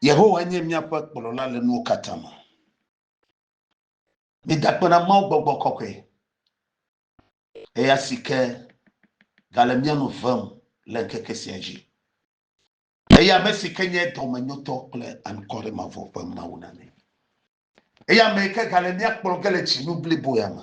Yehowa nye míaƒe kplɔla le nuwo katã me. Midakpe na Mawu gbɔgbɔ kɔkɔe, eya si ke gale mía nu vem le ŋkeke sia dzi. Eya ame si ke nye dɔmenyotɔ kple ankɔre mavɔ ƒe Mawu na mí. Eya ame yi ke gale mía kplɔ ge le dzinu blibo ya me.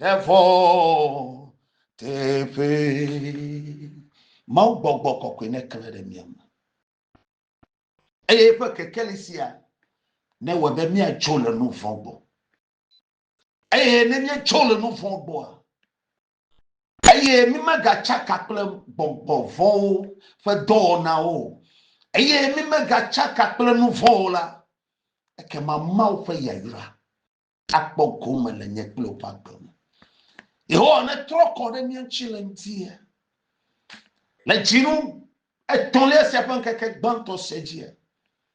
ɖevɔ teƒe mawu gbɔgbɔ kɔkɔe ne kle ɖe mia me eye eƒe kekeli sia ne wɔ be miatso le nu vɔ gbɔ eye ne miatso le nu vɔ gbɔa eye mimegatsaka kple gbɔgbɔ vɔwo ƒe dɔwɔnawo eye mimegatsaka kple nu vɔwo la ekema mawu ƒe yayra akpɔ gome le nye kple woƒe agbe me. Yehowa netrɔ kɔ ɖe mía ŋuti le ŋutia. Le dzinu etɔ̃lia sia ƒe ŋkeke gbãtɔ sia dzia,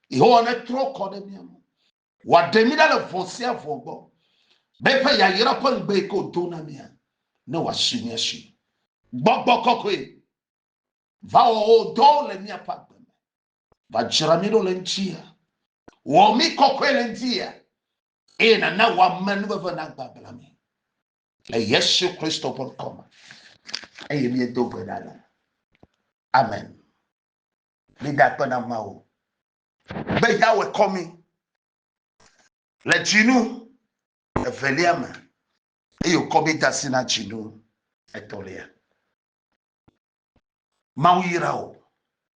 Yehowa netrɔ kɔ ɖe mía ŋu. Wòaɖe mí ɖa le vɔ̃ sia vɔ̃ gbɔ, be eƒe yayra ƒe ŋugbe yi ke wòdo na mía, ne wòasi mía si. Gbɔgbɔ kɔkɔe va wɔ wò dɔwo le míaƒe agbe me. Va dzra mí ɖo le ŋutia. Wɔ mí kɔkɔe le ŋutia. Eye nana wò ame nuveve nagbagblẽ mí. Le Yesu Kristo ƒe ŋkɔ me. Eye míedo gbe ɖa le. Amen. Mida akpe na Mawu. Be Yawe kɔ mí. Le dzinu evelia me. Eye wòkɔ mí da si na dzinu etɔ̃lia. Mawu yra wò.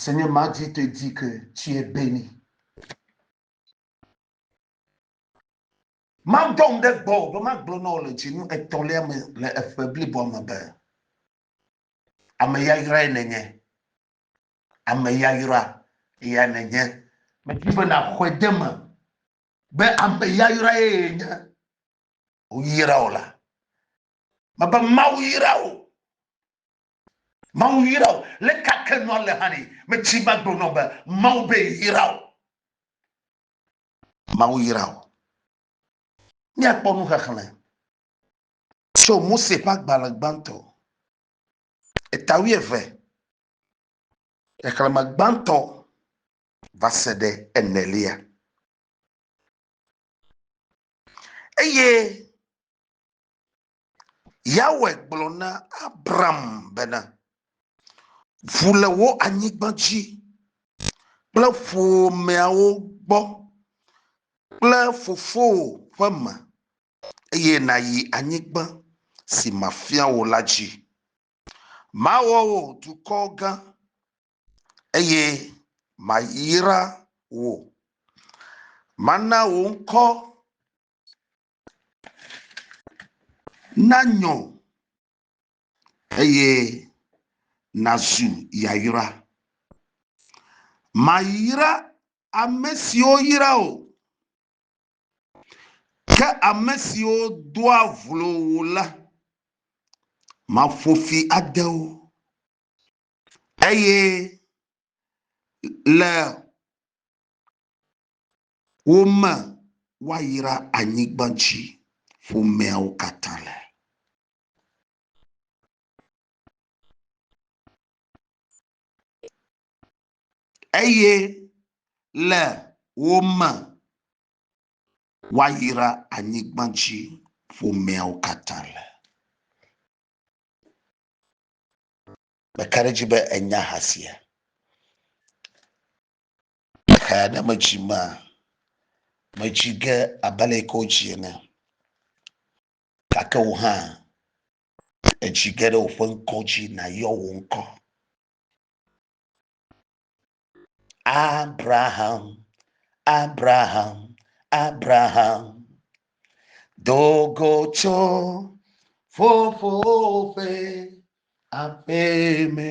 Senye madzi te dzi ke tsiɛ beni. Madɔm ɖe gbɔwò be magblɔ na wò le dzinu etɔ̃lia me le eƒe bliboa me be, Ame yayrae nènye, ame yayra ya nènye. Medi be nàxɔe de eme be ame yayrae nye wò. Woyra wò la, Mebe Mawu yra wò. Mawu yra wò. Le ka ke nua le hã ni? Me tsi ma gblɔ nɔ be Mawu be yra wò. Mawu yra wò. Mía kpɔ nu xexlẽ tso Mose ƒe agbalẽ gbãtɔ, eta wuieve, xexlẽme gbãtɔ va se ɖe enelia. Eye Yahweh gblɔ na Abram bena, Ʋu le wò anyigba dzi kple ƒomeawo gbɔ kple fofowò ƒe me, eye nàyi anyigba si mafia wò la dzi. Mawɔ wò dukɔ gã, eye mayra wò. Mana wò ŋkɔ nanyɔ eye nazu yayra. Mayra ame siwo yra wò, ke ame siwo doa vlo wò la, maƒo fi ade wo. Eye le woma woayra anyigba dzi ƒomeawo katã le. Eye le woma woayra anyigba dzi ƒomeawo katã le. Meka ɖe edzi be enya ha sia. Xexea ne metsi ma, metsi ge abe ale yike wotsi ene, gake wò hã etsi ge ɖe woƒe ŋkɔ dzi nàyɔ wò ŋkɔ. Abraham, Abraham, Abraham, do go tso fofowò ƒe aƒeme.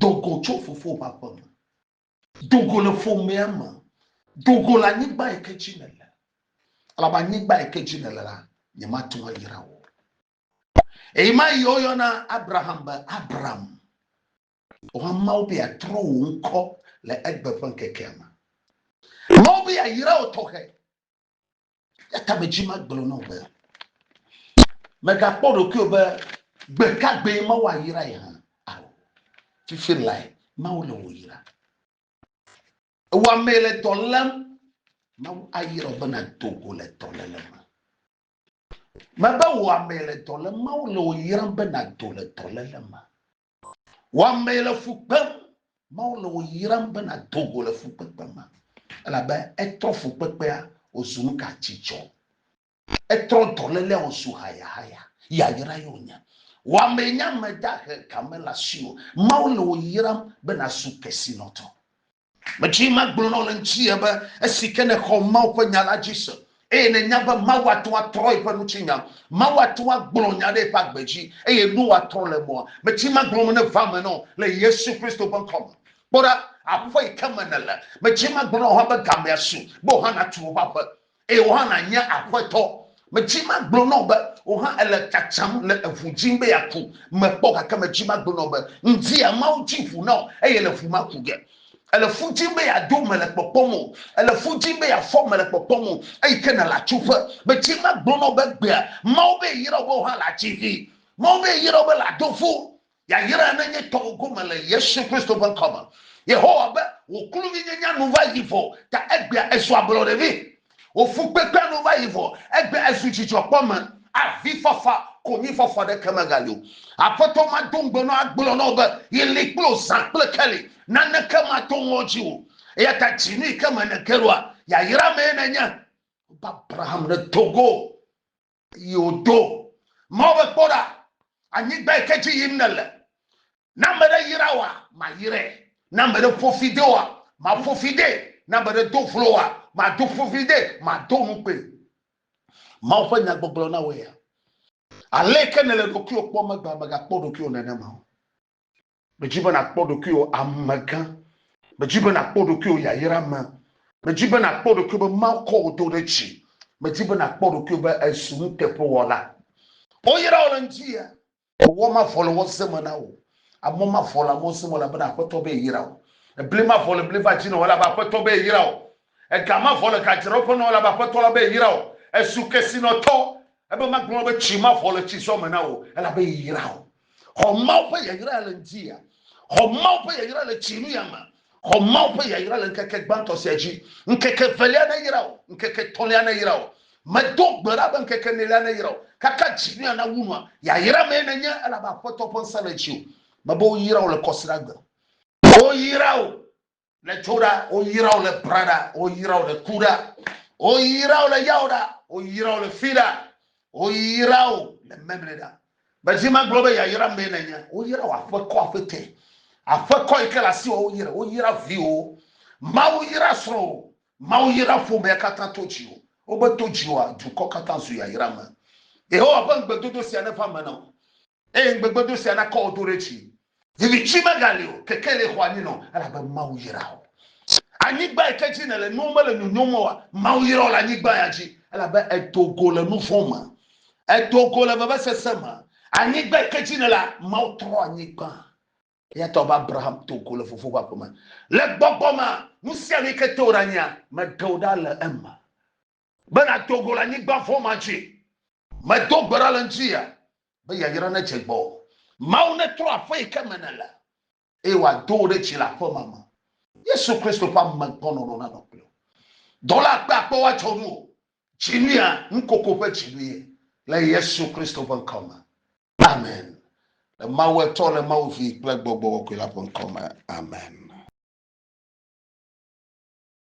Do go tso fofowò ƒe aƒe me. Do go le ƒomea me. Do go le anyigba yi ke dzi nèle. Elabe anyigba yi ke dzi nèle la, nyemate ŋu ayra wò. Eye ma yi woyɔna Abraham be Abram. Wohã Mawu be yeatrɔ wò ŋkɔ le egbe ƒe ŋkekea me. Mawu be yeayra wò tɔxɛ. Yata me dzi magblɔ na wò be, megakpɔ ɖokuiwò be gbe ka gbee Mawu ayra ye hã. Ao, fifi lae Mawu le wò yra. Ewɔ amee le dɔ lém. Mawu ayra wò be nàdo go le dɔléle me. Mebe wò amee le dɔ lém. Mawu le wò yram be nàdo le dɔléle me. Wɔamee le fu kpem. Mawu le wò yram be nàdo go le fukpekpe me elabe etrɔ fukpekpea wòzu nu ka dzidzɔ. Etrɔ dɔlélea wòzu hayahaya. Yayrae wònye. Wɔamee nye ame dahe game le asiwò. Mawu le wò yram be nàzu kesinɔtɔ. Medi be magblɔ na wò le ŋuti be esi ke nèxɔ Mawu ƒe nya la dzi se eye nènya be Mawu ate ŋu atrɔ yeƒe ŋutinya, Mawu ate ŋu agblɔ nya ɖe yeƒe agbe dzi eye nuwo atrɔ le emea, medi be magblɔ nu neva eme na wò le Yesu Kristo ƒe ŋkɔ me. Kpɔ ɖa, aƒe yi ke me nèle, medi be magblɔ na wò hã be gamea su be wò hã nàtu wò ƒe aƒe. Eye wò hã nànye aƒetɔ. Medzi magblɔ na wò be, Wò hã èle tsatsam le eŋu dzim be yeaku. Mekpɔ, gake medzi magblɔ na wò be, Ŋdia Mawu dzi ŋu na wò, eye le ŋu maku ge. Èle fu dzim be yeado mele kpɔkpɔm o. Èle fu dzim be yeafɔ mele kpɔkpɔm o. Eyi ke nèle atsuƒe. Medzi magblɔ na wò be, Gbea Mawu be yeyra wò be wò hã làdzi vi. Mawu be yeyra wò be làdo fu. Yayra nenye tɔwò gome le Yesu Kristo ƒe ŋkɔ me. Yehowa be, Wò kluvinyenya nu va yi vɔ, ta egbea èzu ablɔɖe vɛ. Wò fukpekpea nu va yi vɔ, egbea èzu dzidzɔkpɔme. Avifafa, konyifafɔ aɖeke megali o. Aƒetɔ mado ŋugbe na wò agblɔ na wò be, Yi li kple wò zã kple keli, naneke mato ŋɔdzi o. Eya ta dzinu yi ke me nège ɖoa, yayra mee nènye. Wobe Abraham ɖe do go. Yi wòdo Mawu be, Kpɔ ɖa, anyigba yi ke dzi yim nèle, ne ame ɖe yra woa, mayrae, ne ame ɖe ƒo fi de woa, maƒo fi dee, ne ame ɖe do vlo woa, mado ƒo fi dee, mado nu kpee. Mawu ƒe nya gbɔgblɔ na wò ya. Ale yi ke nèle ɖokuiwò kpɔm egbea, mègakpɔ ɖokuiwò nenema o. Medzi be nàkpɔ ɖokuiwò amegã. Medzi be nàkpɔ ɖokuiwò yayra me. Medzi be nàkpɔ ɖokuiwò be Mawu kɔ wò do ɖe dzi. Medzi be nàkpɔ ɖokuiwò be èzu nuteƒewɔla. Woyra wò le ŋdie. Mewɔ mavɔ le wɔ ze me na wò. Amɔ mavɔ le amɔ ze me elabena Aƒetɔ be yeyra wò. Ebli mavɔ le bli va dzi na wò elabe Aƒetɔ be yeyra wò. Ega mavɔ le gadzraɖoƒe na wò elabe Aƒetɔ la be yeyra wò. Èzu kesinɔtɔ ebe magblɔ be tsi mavɔ le tsizɔ me na wò elabe yeyra wò. Xɔ Mawu ƒe yayra le ŋdia. Xɔ Mawu ƒe yayra le tsi nuya me. Xɔ Mawu ƒe yayra le ŋkeke gbãtɔ sia dzi. Ŋkeke evelia neyra wò. Ŋkeke etɔ̃lia neyra wò. Medo gbe ɖa be ŋkeke enelia neyra wò. Kaka dzi nuya nawu nua. Yayra mee nènye elabe Aƒetɔ ƒe ŋsẽ le dziwò. Mebe woyra wò le kɔsiɖagbe. Woyra wò Le tso ɖa, woyra wo le bra ɖa, woyra wo le ku ɖa, woyra wo le yawo ɖa, woyra wo le fi ɖa, woyra wo le memle ɖa. Bezi magblɔ be yayra mee nenye, woyra wo aƒekɔ aƒetɛ, aƒekɔ yi ke le asi wɔ woyra, woyra viwo, Mawu yra srɔ̃wo, Mawu yra ƒomea katã to dziwò. Wobe to dziwòa, dukɔ katã zu yayra me. Yehowa ƒe ŋugbedodo sia neva me na wò. Eye ŋugbegbedoo sia nakɔ wò do ɖe dzi. Viviti megali o, kekeli xɔ anyi nɔ, elabe Mawu yra wò. Anyigba yi ke dzi nèle nuwo mele nyonyom oa, Mawu yra wò le anyigba ya dzi, elabe èdo go le nu vɔ̃ me. Èdo go le vevesese me. Anyigba yi ke dzi nèlea, Mawu trɔ anyigba. Eya ta wòbe Abraham do go le fofowò ƒe aƒe me. Le gbɔgbɔ mea, nu sia nu yi ke te wòɖe anyia, meɖe wò ɖa le eme. Be nàdo go le anyigba vɔ̃ ma dzi. Medo gbe ɖa le ŋutinye be yayra nedze gbɔwò. Mawu netrɔ aƒe yi ke me nèle eye wòado wò ɖe dzi le aƒema me. Yesu Kristo ƒe amegbɔnɔnɔ nanɔ kple wò. Dɔla akpe akpewo adzɔ nuwò. Dzinuya, nukoko ƒe dzinuye le Yesu Kristo ƒe ŋkɔ me. Amen. Le Mawu Etɔ, le Mawu Vi kple Gbɔgbɔ Kɔkɔe la ƒe ŋkɔ me. Amen.